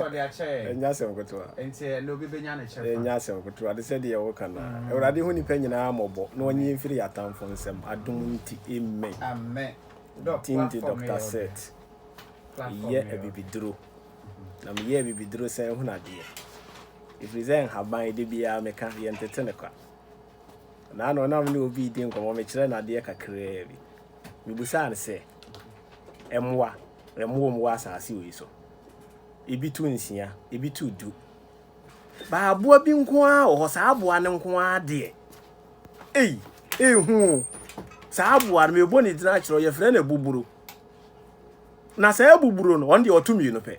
Ɔde akyɛ yɛn. Ɛnyɛ asɛm ketewa. Enti ɛnnɛ obi benya ne kyɛfa. Ɛnyɛ asɛm ketewa. Te sɛ deɛ woka no ara. Awurade hu nnipa nyinaa mmɔbɔ na ɔnye yɛn mfiri yɛn atamfo nsam. Adom nti, amen. Amen. Doc, platform no yɛ ɔdɛ. Tindi Doctor Seth, meyɛ abibiduro. Na meyɛ abibiduro san hunu adeɛ. Ɛfiri sɛ nhaban, da biara meka, yɛntete no kwa. Naano na me ne obi redi nkɔmmɔ, mekyerɛɛ no adeɛ kakraa bi. Mebisaa no sɛ, Mmoa, ɛmmoa wɔ asase wei so? Ebi to nsia, ebi to du. Baa aboa bi nko ara wɔ hɔ, saa aboa no nko ara deɛ. Ei, ehu o. Saa aboa no, mebɔ ne din akyerɛ, yɛfrɛ no abuburo. Na saa abuburo no, ɔno deɛ ɔto mmienu pɛ.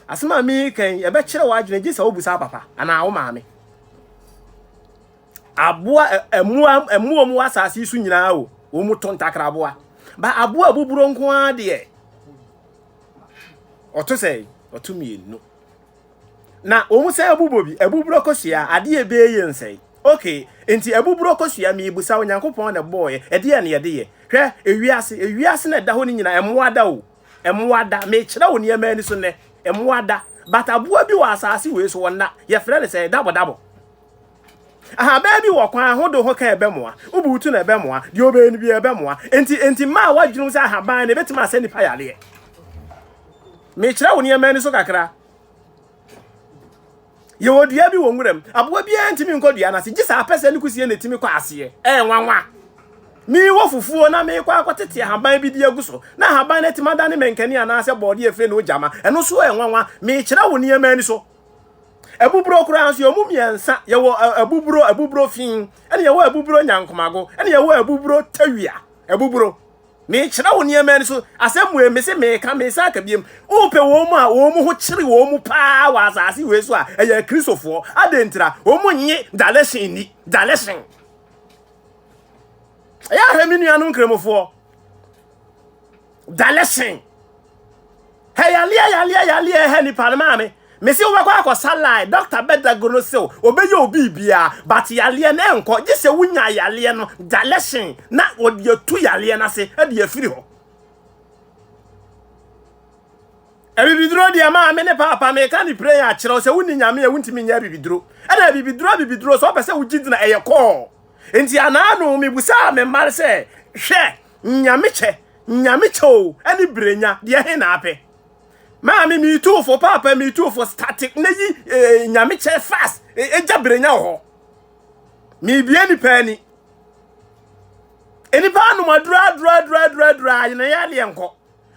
Asɛm a meka yi, ɛbɛkyerɛ w'adwene gye sɛ wobusa papa anaa wo maame. Aboa, mmoa, mmoa mu wɔ asase yi so nyinaa o, wɔn to ntakraboa. Ba aboa abuburo nko ara deɛ. ɔto sɛ ɔto mmienu na wɔn sɛ abubɔ bi abuburo kosua adeɛ bɛɛ yɛ nsɛe okay nti abuburo kosua miibusa onyankopɔn na bɔɔyɛ ɛdeɛ na yɛde yɛ hwɛ ewiase ewiase na ɛda hɔ no nyinaa ɛmoa da o ɛmoa da mekyerɛ wo nneɛma ani so nnɛ ɛmoa da but aboa bi wɔ asaase wei so wɔn na yɛfrɛ no sɛ dabɔ dabɔ Ahabaa bi wɔ kwan ho de ho ka ɛbɛmoa. Wobuw to no ɛbɛmoa. Deɛ ɔbɛyɛ no bi ɛbɛmoa. Enti enti mmaa wadwene mu sɛ ahaban no ɛbɛtumi asɛ nipa yareɛ. Mekyerɛ wo nneɛma ani so kakra. Yɛwɔ dua bi wɔ nwura mu. Aboa biara ntumi nkɔ dua no ase. Gye sɛ apɛ sɛ ne kusie na ɛtumi kɔ aseɛ. Ɛyɛ nwanwa. Mewɔ fufuo na mekɔ akɔtete ahaban bi di agu so. Na ahaban no atumi adane mankani anaasɛ bɔɔde afiri ne ogyama. Ɛno nso ɛyɛ nwanwa. Mekyerɛ wo nneɛma ani so. Abuburo koraa nso yɛwɔ mu mmiɛnsa. Yɛwɔ abuburo, abuburo fi, ɛna yɛwɔ abuburo nyankomago, ɛna yɛwɔ abuburo tawia. Abuburo. Mekyerɛ wo nneɛma no so asɛm wei me se meka mesa aka biem. Wopɛ wɔn mu a wɔn mu ho kyere wɔn mu paa wɔ asase wei so a ɛyɛ kristofoɔ. Adɛn ntira? Wɔn nye daleshen nni. Daleshen. Ɛyɛ ahwɛ me nuanom nkramofoɔ. dalɛsen hɛ yaleɛ yaleɛ yaleɛ hɛ nipa no maame mesi wobɛkɔ akɔsa line dɔkta bɛdago no sɛ obɛyɛ obi biara but yaleɛ no ɛnkɔ gye sɛ wonya yaleɛ no dalɛsen na wɔde atu yaleɛ no ase de afiri hɔ abibiduro deɛ maa me ne paapa meka ne pray akyerɛw sɛ wonni nyame a wontumi nyɛ abibiduro ɛna abibiduro abibiduro sɛ ɔpɛ sɛ wogye dina ɛyɛ kɔɔ nti anaano mebusaa me mma sɛ hwɛ Nyamekyɛ, Nyamekyɛ o, ɛne Brenya, deɛ he na apɛ? Maame, me too fo, Paapa, me too fo, static na yi eh, Nyamekyɛ fast, eh, egya Brenya wɔ hɔ. Mebie nipa ani. Nipa anom adura adura adura adura adura, ayena yɛ adeɛ nkɔ.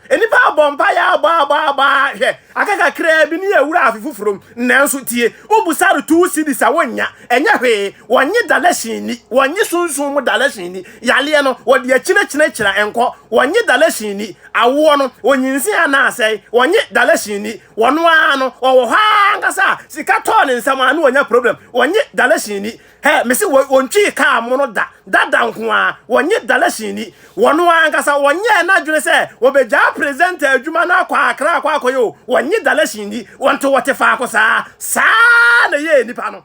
Nnipa abɔ mpaeɛ abɔabɔabɔa, hwɛ, aka kakraa bi ne yɛawura afe foforɔ mu, nanso tie, wobu sare two cedis a wonnya, ɛnyɛ hwee, wɔnnye dalɛhyen nni, wɔnnye sunsum mu dalɛhyen nni, yareɛ no, wɔde akyinakyinakyina nkɔ, wɔnnye dalɛhyen nni, awoɔ no, ɔnyinsɛn anaa asɛe, wɔnnye dalɛhyen nni, ɔno ara no, ɔwɔ hɔ ara ankasa a sika tɔɔ ne nsam a na wanya problem, wɔnnye dalɛhyen nni, Hey, mese wɔ, wɔntwii kaa mo no da, dada nko ara, wɔnye dalahyini, wɔno ara ankasa, wɔnyɛɛ n'adwene sɛ wɔbɛgyaa presenter adwuma no akɔ Accra akɔ akɔyɛ o, wɔnye dalahyini, wɔnto wɔte faako saa, saa ara na ɛyɛɛ nnipa no.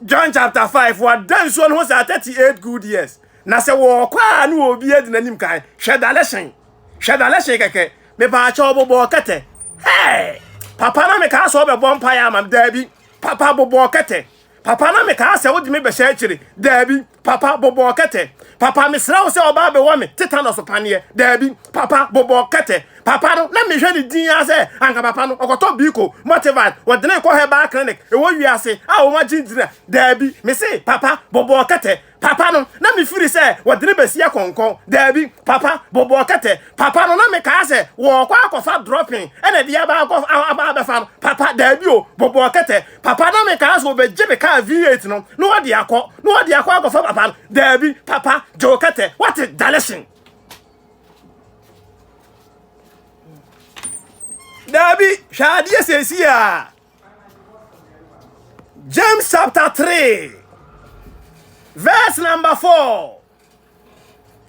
John chapter 5, wɔada nsuo no ho saa 38 good years, na sɛ wɔɔkɔ a ne obi adi n'anim kan, hwɛ dalahyen, hwɛ dalahyen kɛkɛ, mepaakyɛ ɔbobɔɔ kɛtɛ, hey, papa na mekaa sɛ ɔbɛbɔ mpaeɛ ama me, daabi, Papa bobɔɔ kɛtɛ. Papa na mekaa sɛ wode me bɛhyɛ akyiri. Daabi. Papa bobɔɔ kɛtɛ. Papa mesrɛ wo sɛ ɔbaa bɛwɔ me tetanus paneɛ. Daabi. Papa bobɔɔ kɛtɛ. Papa no na mehwɛ ne din ara sɛ anka papa no ɔkɔtɔ biiko, multivite, wɔde no rekɔ herbal clinic ɛwɔ wiase a wɔn agye ntina. Daabi. Mese papa bobɔɔ kɛtɛ. Papa no, na mefiri sɛ wɔde no bɛsi akɔnkɔn. Daabi, papa, bobɔɔ kɛtɛ. Papa no, na mekaa sɛ wɔrekɔ akɔfa drɔpen ɛna de aba akɔ aba abɛfa no. Papa, daabi o, bobɔɔ kɛtɛ. Papa, na mekaa sɛ wɔbɛgye me kaa V8 no na wɔde akɔ, na wɔde akɔ akɔfa papa no. Daabi, papa, gyew kɛtɛ. Wate, dalehyen. Daabi, hwɛ adeɛ seesie a, James chapter 3, verse number 4.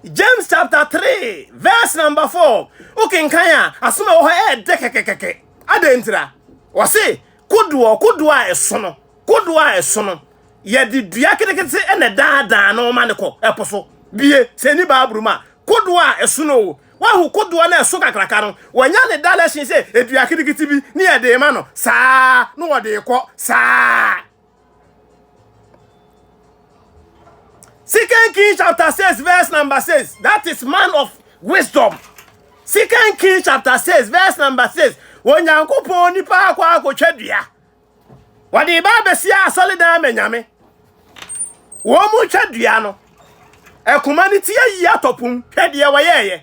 James chapter 3, verse number 4. Wokenkan a, asom a ɛwɔ hɔ ɛɛdɛ kɛkɛkɛkɛ. Adɛn ntira? Wɔse, kodoɔ, kodoɔ a ɛso no, kodoɔ a ɛso no, yɛde dua ketekete na ɛdaadaa no ma no kɔ ɛpo so. Bie, sɛ ɛni baaburo mu a, kodoɔ a ɛso no o, Woahu kodoɔ no a ɛso kakraka no? Wɔnya ne dalɛhyen sɛ dua ketekete bi ne yɛde rema no saa na wɔde rekɔ saa. Second Kings chapter 6 verse number 6. That is man of wisdom. Second Kings chapter 6 verse number 6. Onyankopɔn nipa akɔ akɔtwa dua. Wɔde ba abɛsia asɔredan ama Nyame. Wɔn mu twa dua no. Akuma no ti ayi atɔ pum. Hwɛ deɛ wɔyɛɛyɛ.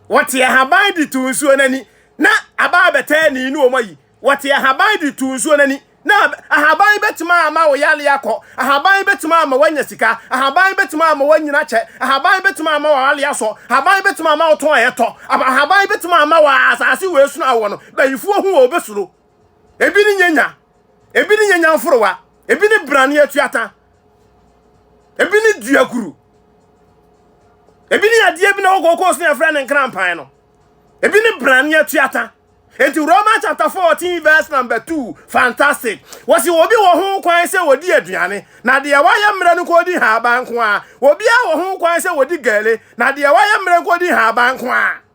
Wɔte ahaban de tu nsuo no ani. Na aba abɛtɛ ani ne wɔn ayi. Wɔte ahaban de tu nsuo no ani. Na ahaban bɛtumi ama wo yareɛ akɔ. Ahaban bɛtumi ama woanya sika. Ahaban bɛtumi ama woanyina kyɛ. Ahaban bɛtumi ama w'awale asɔ. Ahaban bɛtumi ama wo tɔn ɛtɔ. Ahaban bɛtumi ama w'asase wei sunu awɔ no. Bayifoɔ hu wɔ wɔbɛsuro. Ebi ne nyanya, ebi ne nyanya mforowa, ebi ne brane atuata, ebi ne duakuru, ebi ne adeɛ bi na ɛwɔ kokos ne ɛfrɛ ne nkrampan no, ebi ne brane atuata. Enti Roman chapter 14 verse number 2, fantastic. Wɔsi obi wɔ ho kwan sɛ wɔdi aduane, na deɛ wayɛ mmerɛ no kɔdi haban nko a. Obiara wɔ ho kwan sɛ wɔdi gɛle, na deɛ wayɛ mmerɛ nko di haban nko a.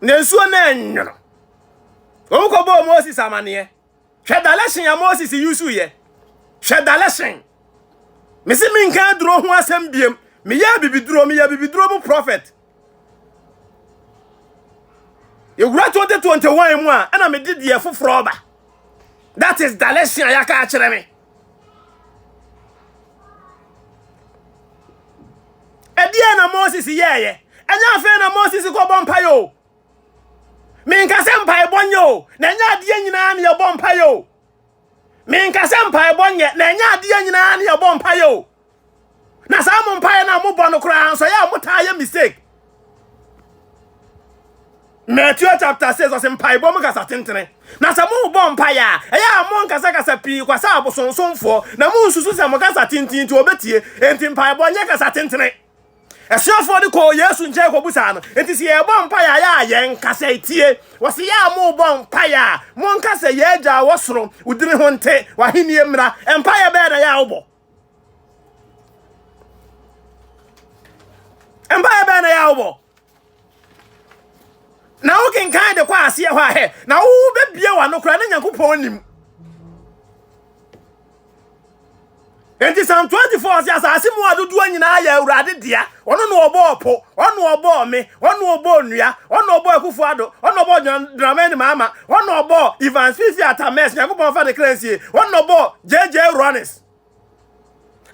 Na nsuo no anwono. Wɔn kɔbɔɔ Moses amaneɛ. Hwɛ dalɛhyen a Moses yusu yɛ. Hwɛ dalɛhyen. Mese menka aduro ho asɛm biem. Meyɛ abibiduro, meyɛ abibiduro mu prophet. Yɛwura 2021 mu a, ɛna mede deɛ foforɔ ba. That is dalɛhyen a yɛaka akyerɛ me. ɛdeɛ na moses yɛɛyɛ ɛnyɛ afei na moses kɔbɔ mpaeɛ o menka sɛ mpaebɔ nyɛ o na ɛnyɛ adeɛ nyinaa ne yɛbɔ mpaeɛ o menka sɛ mpaebɔ nyɛ na ɛnyɛ adeɛ nyinaa ne yɛbɔ mpaeɛ o na saa mo mpaeɛ no a mobɔ no koraa nso ɛyɛ a motaa yɛ mistake Matthew chapter 6 ɔsɛ mpaebɔ mu kasa tentene na sɛ mobɔ mpaeɛ a ɛyɛ a monkasakasa pii kwa sɛ abosonsomfoɔ na monsusu sɛ mo kasa tenten nti ɔbɛtie enti mpaebɔ nyɛ kasa tentene asuafoɔ no kɔɔ yesu nkyɛn kɔbusaa no enti sɛ yɛbɔ mpaeɛ a yɛ a yɛn kasa tie wɔsɛ yɛ a mobɔ mpaeɛ a monka sɛ yɛagya wɔ soro wodini ho nte wahennie mmra mpaeɛ bɛɛ na yɛ a wobɔ mpaeɛ bɛn na yɛ a wobɔ na wokenkan de kɔ aseɛ hɔ a hɛ na wobɛbie w'ano koraa na nyankopɔn nim enti sam 24 sɛ asase mu adodoɔ nyinaa yɛ awurade dea ɔno na ɔbɔɔ po ɔno na ɔbɔɔ me ɔno na ɔbɔɔ nnua ɔno na ɔbɔɔ akufo ado ɔno na ɔbɔɔ dramani maama ɔno na ɔbɔɔ ivan fifi atames nyankopɔn fa ne kra nsie ɔno na ɔbɔɔ JJ Rawlings.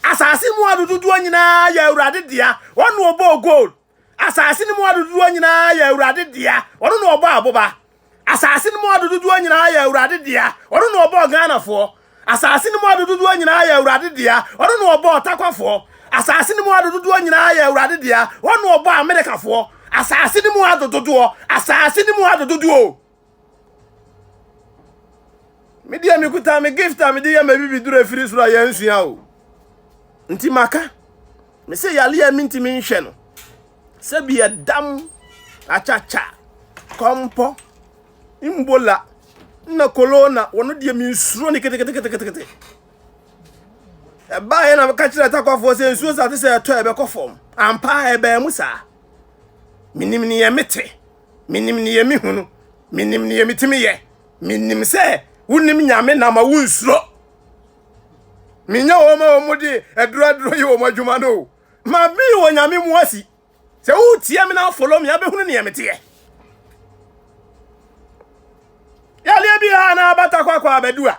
Asase mu adododoɔ nyinaa yɛ awurade dea. Ɔno na ɔbɔɔ gold. Asase no mu adododoɔ nyinaa yɛ awurade dea. Ɔno na ɔbɔɔ aboba. Asase no mu adododoɔ nyinaa yɛ awurade dea. Ɔno na ɔbɔɔ Ghanafoɔ. Asase no mu adododoɔ nyinaa yɛ awurade dea. Ɔno na ɔbɔɔ Takwafoɔ. Asase no mu adododoɔ nyinaa yɛ awurade dea. Ɔno na ɔbɔɔ Amerikafoɔ. Asase no mu adododoɔ. Asase no mu adododoɔ. Me deɛ mekuta me gift a mede yɛ ma bibi duro afiri soro a yɛansua o. Nti maka. Me sɛ yale a mentumi nhwɛ no. Sɛ bi ɛdam, akyakya, kɔmpɔ, mbola, na kolona, wɔno deɛ mensuro ne keteketeketekete. Ɛbaeɛ na meka kyerɛ takwafoɔ sɛ nsuo sa te sɛ ɛtɔ ɛbɛkɔ fam. Ampa ɛbaa mu saa. Menim ne yɛ mete. Menim nea mehu no, menim nea metumi yɛ. Menim sɛ wonim Nyame na ma wonsuro. Menyɛ wɔn ma wɔn de aduraduro yɛ wɔn adwuma no. Ma me wɔ Nyame mu asi. Sɛ wotie me na afolo me abɛhunu nea meteɛ. Yadeɛ biara na abata kwakwa abɛdu a,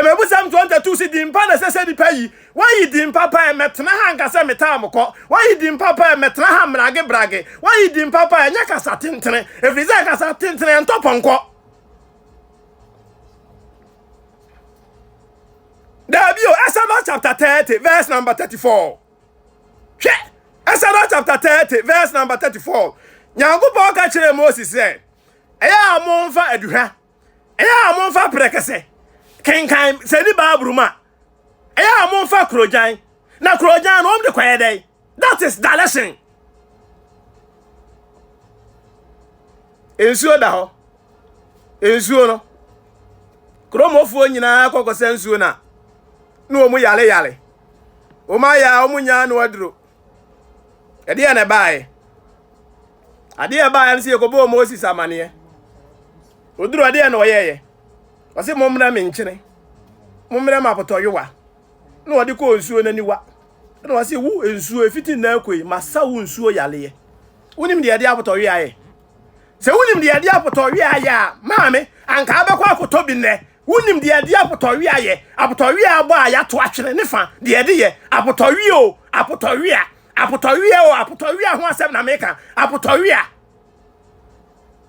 Mmebusɛm 22 se din pa na ɛsɛ sɛ nipa yi. Wayi din papa ɛ, mɛtena ha nka sɛ metaa mo kɔ. Wayi din papa ɛ, mɛtena ha mmerage brage. Wayi din papa ɛ, nyɛ kasa tentene, ɛfiri sɛ kasa tentene ɛntɔ pɔnkɔ. Dabi o, Exodus chapter 30 verse number 34. Hwɛ, Exodus chapter 30 verse number 34. Nyankopɔn ka kyerɛɛ Moses sɛ, ɛyɛ a momfa aduhwa ɛyɛ a momfa prɛkɛsɛ kenkan sɛ ni baaburu mu a ɛyɛ a momfa kurogyan na kurogyan no wɔn de kɔyɛ dɛn that is dalɛsen nsuo da hɔ nsuo no kuromofoɔ nyinaa kɔkɔsɛ nsuo no a na wɔn yale yale wɔn ayɛ a wɔn nyaa no aduro ɛdeɛ na ɛbaeɛ Adeɛ a ɛbaeɛ no sɛ yɛkɔbɔɔ Moses amaneɛ. Ɔduru adeɛ na ɔyɛeɛ. Ɔse mommrɛ me nkyene. Mommrɛ me apotɔyowa. Na ɔde kɔɔ nsuo no aniwa. Na ɔse wo nsuo ɛfiti nnɛ akɔ yi masa wo nsuo yareɛ. Wonim deɛ yɛde apotɔyowa yɛ? Sɛ wonim deɛ yɛde apotɔyowa yɛ a maa me anka wobɛkɔ akɔtɔ bi nnɛ. Wonim deɛ ɛde apotɔwea yɛ, apotɔwea a abɔ a yɛato atwene ne fa, deɛ ɛde yɛ, apotɔwea o, apotɔwea, apotɔwea o, apotɔwea ho asɛm na meka, apotɔwea.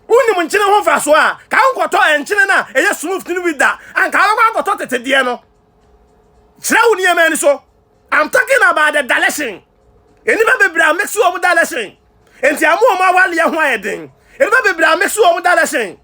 Wonim nkyene ho mfasoɔ a, ka wonkɔtɔ nkyene no a ɛyɛ smooth no bi da, anka wobɛkɔ akɔtɔ tete deɛ no. Kyerɛ wo nneɛma ani so. I'm talking about the dilation. Nnipa bebree a mix wɔn dilation. Enti amu wɔn awaleɛ ho ayɛ den. Nnipa bebree a mix wɔn dilation.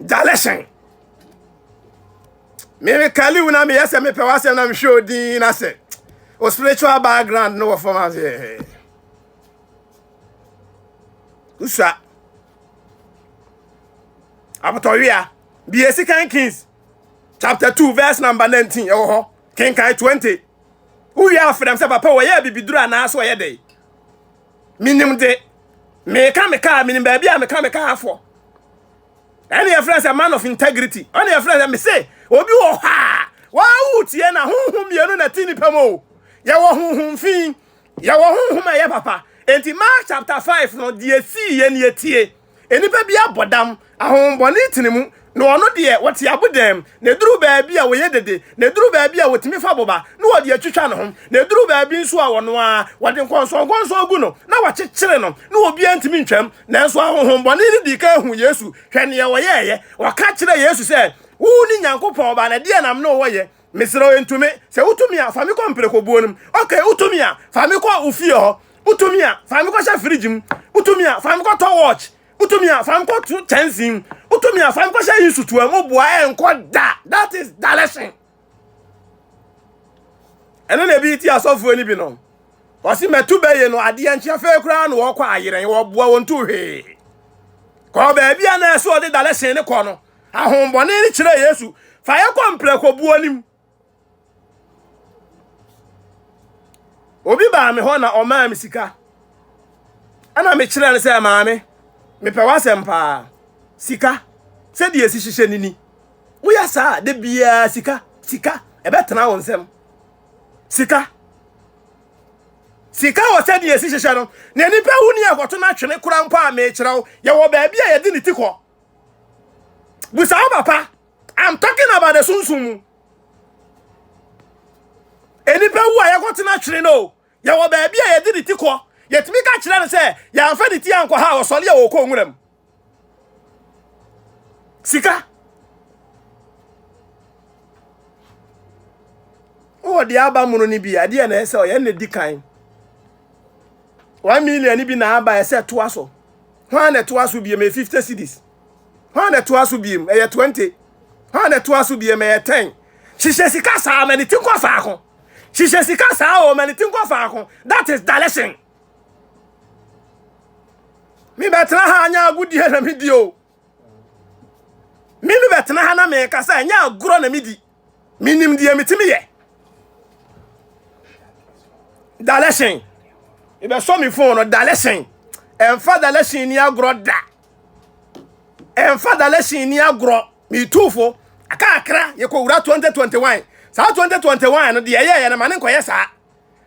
dalɛhyɛn meme kali wo na meyɛ sɛ mepɛ w'asɛm na mehwɛ odin na sɛ o spiritual background no wɔ fam ase eh. usua abotɔwea bie sikan kings chapter 2 verse number 19 ɛwɔ hɔ kenkan 20 wowie afrɛ m sɛ papa wɔyɛ abibiduro anaa so ɔyɛ dɛn menim de meka me kaa menim baabi a meka me kaa afɔ ɛne yɛfrɛ sɛ man of integrity ɛne yɛfrɛ sɛ mese obi wɔ hɔ a wɔawo tie na honhom mmienu na ti nipa mu o yɛwɔ honhom fi yɛwɔ honhom a ɛyɛ papa enti mark chapter 5 no deɛ sii yɛ ne yɛtie Nnipa bi abɔ dam, ahonhommɔne tene mu, na wɔn deɛ, wɔte abodam, na ɛduru baabi a wɔyɛ dede, na ɛduru baabi a wɔtumi fa boba, na wɔde atwitwa ne ho, na ɛduru baabi nso a ɔno ara, wɔde nkɔnsɔnkɔnsɔn gu no, na wɔkyekyere no, na obiara ntumi ntwam. Nanso ahonhommɔne no dii kan huu Yesu. Hwɛ nea wɔyɛeɛ! Wɔka kyerɛɛ Yesu sɛ, Wone Nyankopɔn Ba, na ɛdeɛn na me ne wo wɔ yɛ? Mesrɛ wo, entumi. Sɛ wotumi a, fa me kɔ mprekobuo no mu. Okay, wotumi a, fa me kɔ wo fie hɔ. Wotumi a, fa me kɔhyɛ fridge mu. Wotumi a, fa me kɔtɔ watch. Wotumi a, fa me kɔto kyɛnsee mu. Wotumi a, fa me kɔhyɛ nsutoa mu. Boa ɛnkɔ da. That is direction. Ɛno na ebi ti asɔfoɔ no bi no. Wɔsi mɛto bɛyɛ no adeɛ nkyɛn fɛɛ koraa na wɔkɔ ayerɛn wɔboa wɔn to hwee. Kɔɔ baabi a na ɛsɛ ɔde direction ne kɔ no. Ahohombɔne no kyerɛɛ Yesu, fa yɛn kɔ mprɛko buo no mu. Obi baa me hɔ na ɔmaa me sika. Ɛna mekyerɛɛ no sɛ, maame, mepɛ w'asɛm paa. Sika, sɛdeɛ ɛsi hyehyɛ no ni. Woyɛ saa a, da biara sika, sika, ɛbɛtena wo nsam. Sika. Sika wɔ sɛdeɛ ɛsi hyehyɛ no, na nipa wu ni a ɛkɔto no atwene kora mpo a mekyerɛ wo, yɛwɔ baabi a yɛde ne ti kɔ. Busa wo papa. I'm talking about the sunsumu. Enipa wu a yɛkɔtena twere no. Yɛwɔ baabi a yɛde ne ti kɔ. Yɛtumi ka kyerɛ no sɛ yɛamfa ne ti ankɔ ha a ɔsɔre a wɔkɔ nwura mu. Sika. Wowɔ deɛ aba mono no bi a, deɛ na ɛsɛ ɔyɛ na di kan. One million bi na aba ɛsɛ toa so. Hwan na ɛtoa so biem? Ɛyɛ 50 cedis. Hwan na ɛtoa so biem? Ɛyɛ 20. Hwan na ɛtoa so biem? Ɛyɛ 10. Hyehyɛ sika saa, ma ne ti nkɔ faako. Hyehyɛ sika saa o, ma ne ti nkɔ faako. That is direction. Me bɛtena ha anya agodie na me di o. Me me bɛtena ha na meka sɛ ɛnyɛ agorɔ na me di. menim deɛ metumi yɛ dalɛsen ebɛsɔ me fon no dalɛsen ɛnfa dalɛsen ni agorɔ da ɛnfa dalɛsen ni agorɔ metuufo aka akra yɛkɔ wura 2021 saa 2021 no deɛ ɛyɛɛyɛ no ma ne nkɔyɛ saa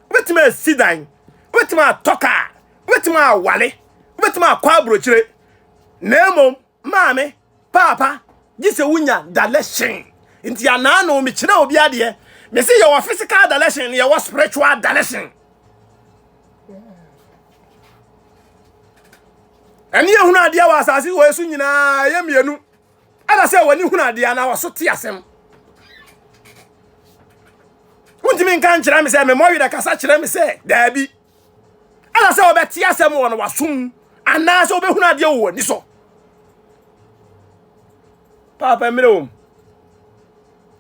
wobɛtumi asi dan wobɛtumi atɔ kaa wobɛtumi awale wobɛtumi akɔ aburokyire na mmom Maame, Paapa, gye sɛ wonya dalɛhyen. Nti anaa no, mekyerɛ obi adeɛ. Mese yɛwɔ physical dalɛhyen na yɛwɔ spiritual dalɛhyen. Ɛne yɛhunu adeɛ wɔ asase wɔ so nyinaa yɛ mmienu. Ɛna sɛ w'ani hunu adeɛ anaa wɔso te asɛm. Wontumi nka nkyerɛ me sɛ memmɔ werɛ kasa kyerɛ me sɛ daabi. ɛna sɛ wobɛte asɛm wɔ no wasom anaasɛ wobɛhunu adeɛ wɔ w'ani so paapa mmerɛ wom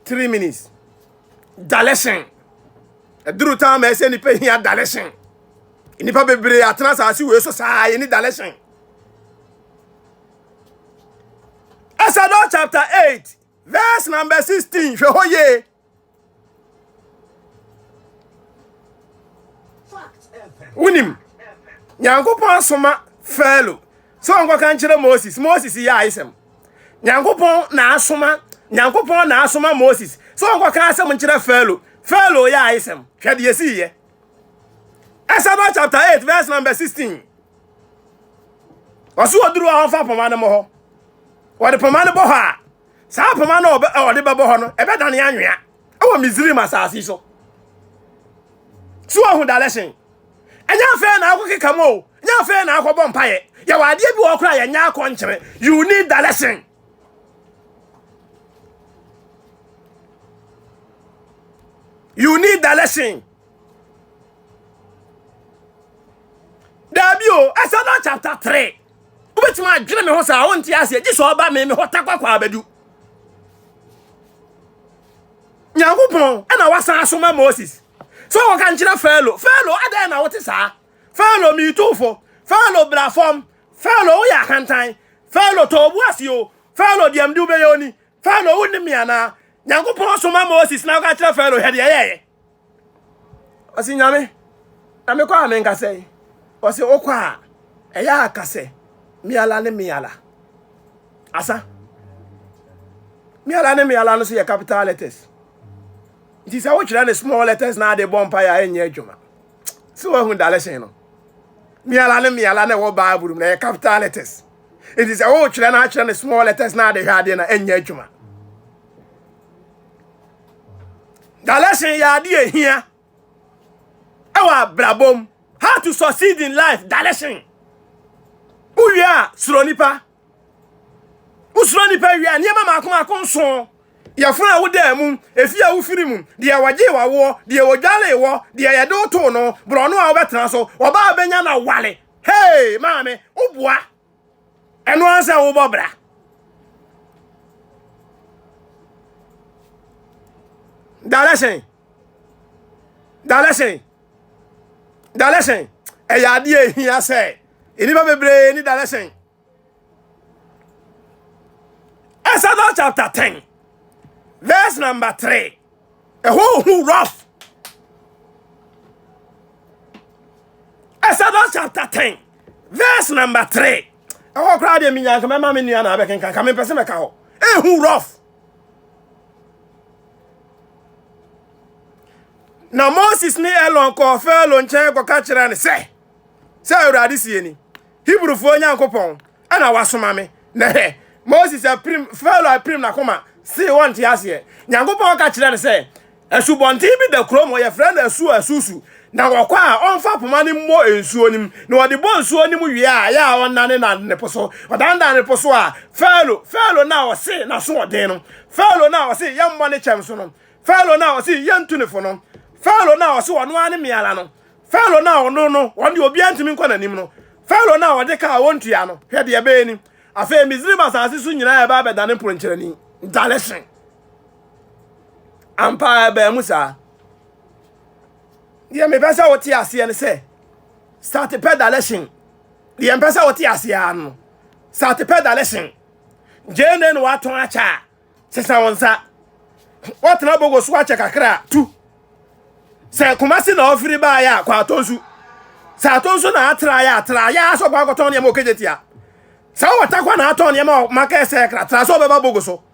3 minutes dalɛsen ɛduru taa ma ɛsɛ nnipa hia dalɛsen nnipa bebree atena asase wei so saa yɛni dalɛsen Exodus chapter 8 verse number 16 hwɛ hɔ yie wonim nyankopɔn soma fɛlo sɛ ɔnkɔka nkyerɛ moses moses yɛ ayesɛm nyankopɔn na asoma nyankopɔn na asoma moses sɛ ɔnkɔka asɛm nkyerɛ fɛlo fɛlo yɛ ayesɛm hwɛ deɛ ɛsiiɛ Exodus chapter 8 verse number 16 ɔso ɔduru a ɔmfa poma no mɔ hɔ wɔde poma no bɔ hɔ a saa apoma no a ɔde bɛbɔ hɔ no ɛbɛdane anwea ɛwɔ misrim asase so so ɔho dalɛsen ɛnyɛ afei na akɔkeka mu o nyɛ afei na akɔbɔ mpaeɛ yɛwɔ adeɛ bi wɔ kora yɛnyɛ akɔnkyere you need the lesson you need the lesson daabi o ɛsɛ na chapter three wobɛtumi adwene me ho saa wonte aseɛ gye sɛ ɔba me me hɔ takwakɔ abɛdu nyankopɔn ɛna wasan asoma moses sɛ wɔka nkyerɛ fɛlo fɛlo adɛn na wote saa fɛlo meetufo fɛlo bra fam fɛlo woyɛ ahantan fɛlo tɔ obu ase o fɛlo deɛmde wobɛyɛ oni fɛlo wonni me anaa nyankopɔn soma moses na woka kyerɛ fɛlo hwɛ deɛ yɛyɛ ɔsi nyame na mekɔ a menka sɛ ɔsi okɔ a ɛyɛ aka sɛ miala ne miala asa miala ne miala no so yɛ capital letters nti sɛ wotwerɛ ne small letters na ade bɔ mpa yɛ a ɛnyɛ adwuma sɛ wahu dalɛhyɛn no miala ne miala na ɛwɔ bible mu na ɛyɛ capital letters nti sɛ wotwerɛ na atwerɛ ne small letters na ade hwɛ adeɛ na ɛnyɛ adwuma Galatian yɛ ade a ehia ɛwɔ abrabɔ mu. How to succeed in life, Galatian. Wowie a, suro nipa. Wosuro nipa wie a, nneɛma mako mako nson. Yɛfunu a wodaa mu, efi a wofiri mu, deɛ wɔgye wawoɔ, deɛ wɔdwale wɔ, deɛ yɛde wotoo no, borɔno a wobɛtena so, ɔbaa bɛnya na wale. Hey, maame, woboa. ɛno ara sɛ wobɔ bra dalɛsɛn dalɛsɛn dalɛsɛn ɛyɛ adeɛ ehia sɛ nnipa bebree ne dalɛsɛn Exodus chapter ten verse number three ɛhɔ ohu rough Exodus chapter ten. verse number three ɛhɔ koraa deɛ menya nka mɛma me nua na abɛkenka nka mempɛ sɛ mɛka hɔ ɛhu eh, rough na moses ne elon kɔɔ farao nkyɛn kɔka kyerɛ no sɛ sɛ awurade sie ni hebrufoɔ nyankopɔn ɛna wasoma me na hɛ moses apirim farao apirim n'akoma see wɔnte aseɛ nyankopɔn ka kyerɛ no sɛ Asubɔnten bi da kurom hɔ, wɔfrɛ no Asu Asusu. Na wɔkɔ a, ɔmfa poma no mmɔ nsuo no mu, na ɔde bɔ nsuo no mu wie a, ɛyɛ a ɔnnanenane po so. Ɔdanedane po so a, Farao, Farao no a ɔse n'asoɔden no, Farao no a ɔse yɛmmɔ ne kyɛm so no, Farao no a ɔse yɛntu ne fo no, Farao no a ɔse ɔno ara ne meara no, Farao no a ɔno no, ɔno deɛ obiara ntumi nkɔ n'anim no, Farao no a ɔde ka a ɔntua no, hwɛ deɛ ɛbɛyɛ ni. Afei Misraim asase so nyinaa ɛbaa bɛdane mponkyerɛni, dalehye. ampa ara ɛbaa mu saa deɛ mepɛ sɛ wote aseɛ no sɛ start pedalation deɛ mpɛ sɛ wote aseɛ ara no start pedalation gyee ne na watɔn akyɛ a sesa wo nsa watena bogo so akyɛ kakra tu sɛ kumase na ɔfiri baayɛ a kɔ atɔ nsu sɛ atɔ nsu na atra yɛ atra yɛ asɔ kɔ akɔtɔn nneɛma ɔkɛgye tia sɛ wɔtakwa na atɔn nneɛma ɔmaka ɛsɛ kra tra sɛ ɔbɛba bogo so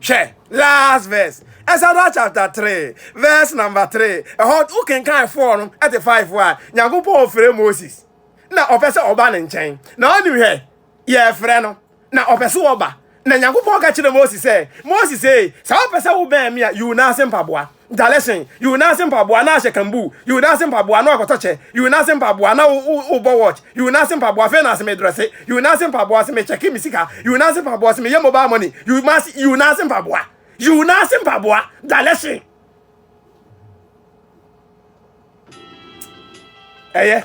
Hwɛ last verse, Exodus chapter three verse number three. Ɛhɔ wo kenkan four no ɛte five a, Nyankopɔn ɔfrɛ Moses na ɔpɛ sɛ ɔba ne nkyɛn. Na ɔnim hwɛ, yɛfrɛ no na ɔpɛ sɛ ɔba. Na Nyankopɔn ka kyerɛ Moses sɛ, Moses ee, sɛ wopɛ sɛ wobɛn me a, yi wo nan ase mpaboa. dalɛhyɛn yi wo nan ase mpaboa na ahyɛ kambuu yi wo nan ase mpaboa na wakɔtɔ kyɛ yi wo nan ase mpaboa na wobɔ watch yi wo nan ase mpaboa afei na ase medrɛse yi wo nan ase mpaboa ase mekyɛke me sika yi wo nan ase mpaboa ase meyɛ mobile money yi wo nan yi wo nan ase mpaboa yi wo nan ase mpaboa dalɛhyɛn ɛyɛ.